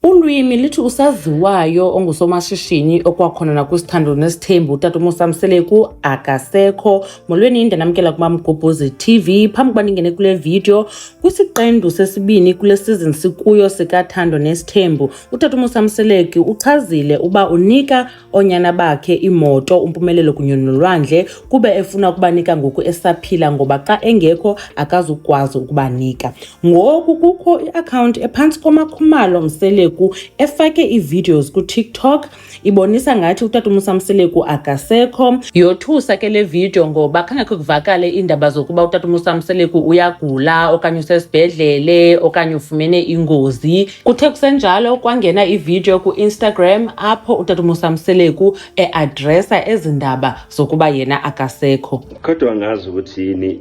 Ulwimi lithi usaziwayo ongusomashishini okwakhona nakwisithando nesithembu utata umusa mseleku akasekho molweni ndanamkela kumamgobhozi tv phambi kuba ndingene kule vidiyo kwisiqendu sesibini kule sizini sikuyo sikathando nesithembu utata umusa mseleku uchazile uba unika oonyana bakhe, iimoto, umpumelelo kunye nolwandle, kube efuna ukubanika ngoku esaphila ngoba xa engekho akazukwazi ukubanika. Ngoku kukho iakhawunti ephantsi koMakhumalo Mseleku efake iivideos kuTikTok ibonisa ngathi utata uMusa Mseleku akasekho. Yothusa ke le video ngoba khangekho kuvakale iindaba zokuba utata uMusa Mseleku uyagula okanye usesibhedlele okanye ufumene ingozi. Kuthe kusenjalo kwangena ividiyo ku-Instagram apho utata uMusa Mseleku eadresa ezi ndaba zokuba yena akasekho. Kodwa angazi ukuthi yini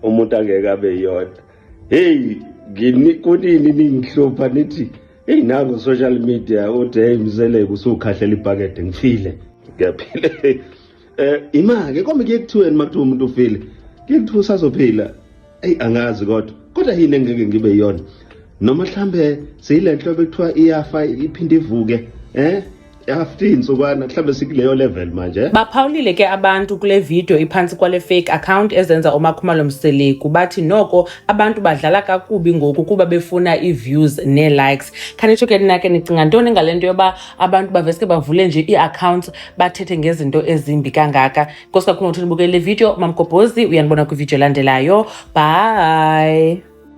umuntu angeke abe yodwa. Heyi, kunini ningihlupha nithi heyi nango social media uthi heyi Mseleku usukhahlela ibhakede ngifile. Ngiyaphile. Eh imake kombe ke kuthiweni makuthiwa umuntu ufile. Ke kuthiwa usazophila. Ey angazi kodwa. Kodwa yini engeke ngibe yona? Noma mhlambe seyile nhlobo ekuthiwa iyafa iphinde ivuke. Eh after intsukwana mhlawumbe sikuleyo level manje eh? baphawulile ke abantu kule video iphantsi kwale fake account ezenza umakhumalo mseleku bathi noko abantu badlala kakubi ngoku kuba befuna ii-views nee-likes khanitsho ke nina ke nicinga ntoni ngale nto yoba abantu baveske bavule nje ii-accounts bathethe ngezinto ezimbi kangaka nkosi kakhulu ngokuthi nibukele le video mamgobhozi uyanibona kwividiyo elandelayo bye